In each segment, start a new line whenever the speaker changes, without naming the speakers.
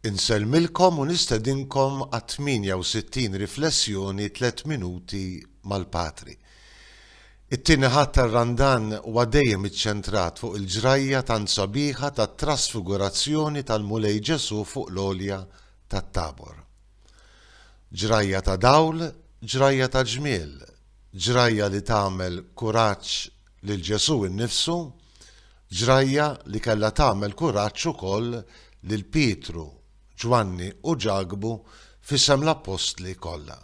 Insellmilkom u nistedinkom għat-68 riflessjoni Tliet Minuti mal-Patri. It-Tieni Ħadd tar-Randan huwa dejjem iċċentrat fuq il-ġrajja tant sabiħa tat-Trasfigurazzjoni tal-Mulej Ġesù fuq l-għolja tat-Tabor. Ġrajja ta' dawl, ġrajja ta' ġmiel, ġrajja li tagħmel kuraġġ lil Ġesù innifsu, Ġrajja li kellha tagħmel kuraġġ ukoll lil Pietru, Ġwanni u Ġakbu f'isem l-appostli kollha.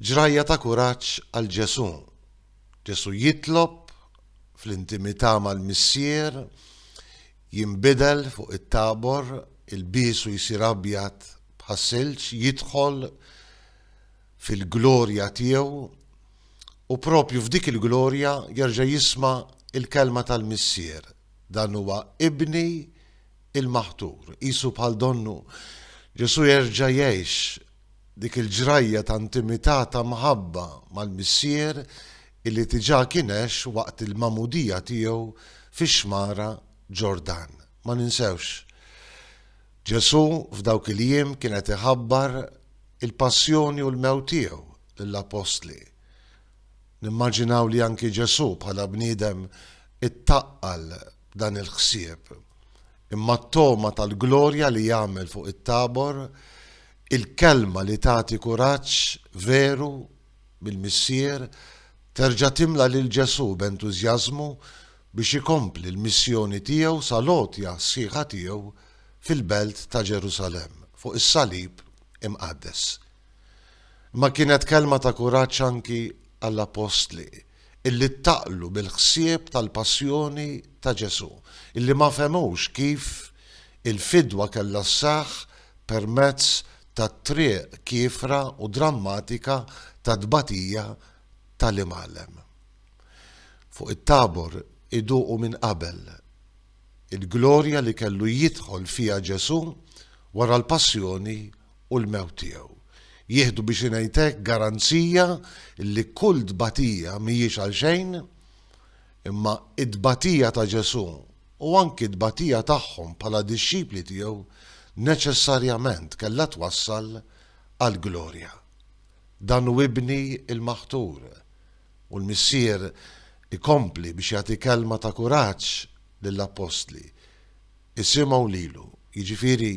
Ġrajja ta' kuraġġ għal Ġesù. Ġesù jitlob fl-intimità mal-Missier, jinbidel fuq it-Tabor, ilbiesu jsir abjad bħas-silġ, jidħol fil-glorja tiegħu u proprju f'dik il-glorja jerġa' jisma' l-kelma tal-Missier, Dan huwa Ibni l-maħtur. Qisu bħal donnu, Ġesù jerġa' jgħix dik il-ġrajja ta' intimità ta' mħabba mal-Missier illi diġà kien għex waqt il-magħmudija tiegħu fix-xmara Ġordan. Ma ninsewx, Ġesù f'dawk il-jiem kien qed iħabbar il-passjoni u l-mewt tiegħu lill-appostli. Nimmaġinaw li anki Ġesù bħala bniedem ittaqqal b'dan il-ħsieb. Imma t-togħma tal-glorja li jagħmel fuq it-Tabor, il-kelma li tagħti kuraġġ veru mill-Missier terġa' timla lil Ġesù b'entużjażmu biex ikompli l-missjoni tiegħu sal-għotja sħiħa tiegħu fil-belt ta' Ġerusalemm fuq is-salib imqaddes. Imma kienet kelma ta' kuraġġ anki għall-appostli illi ttaqlu mill-ħsieb tal-passjoni ta' Ġesù, illi ma fehmux kif il-fidwa kellha sseħħ permezz tat-triq kiefra u drammatika tat-tbatija ta' l-Imgħallem. Fuq it-Tabor iduqu minn qabel il-glorja li kellu jidħol fiha Ġesù wara l-passjoni u l-mewt tiegħu. Jieħdu biex ngħid hekk garanzija li kull tbatija mhijiex għalxejn Imma t-tbatija ta' Ġesù u anki t-tbatija tagħhom bħala dixxipli tiegħu neċessarjament kellha twassal għall-glorja. Dan hu Ibni l-Maħtur, u l-Missier ikompli biex jagħti kelma ta' kuraġġ lill-appostli, Isimgħu lilu, jiġifieri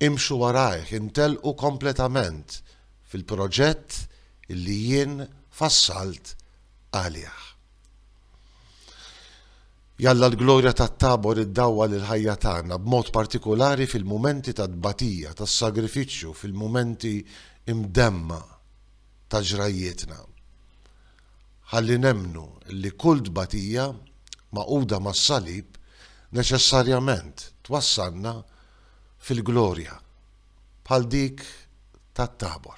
imxu warajh, intellqu kompletament fil-proġett li jien fassalt għalih. Jalla l-glorja tat-Tabor iddawwal il-ħajja tagħna b'mod partikulari fil-mumenti ta' tbatija, tas-sagrifiċċju, fil-mumenti imdemma ta' ġrajjietna. Ħalli nemmnu li kull tbatija magħquda mas-salib neċessarjament twassalna fil-glorja bħal dik tat-Tabor.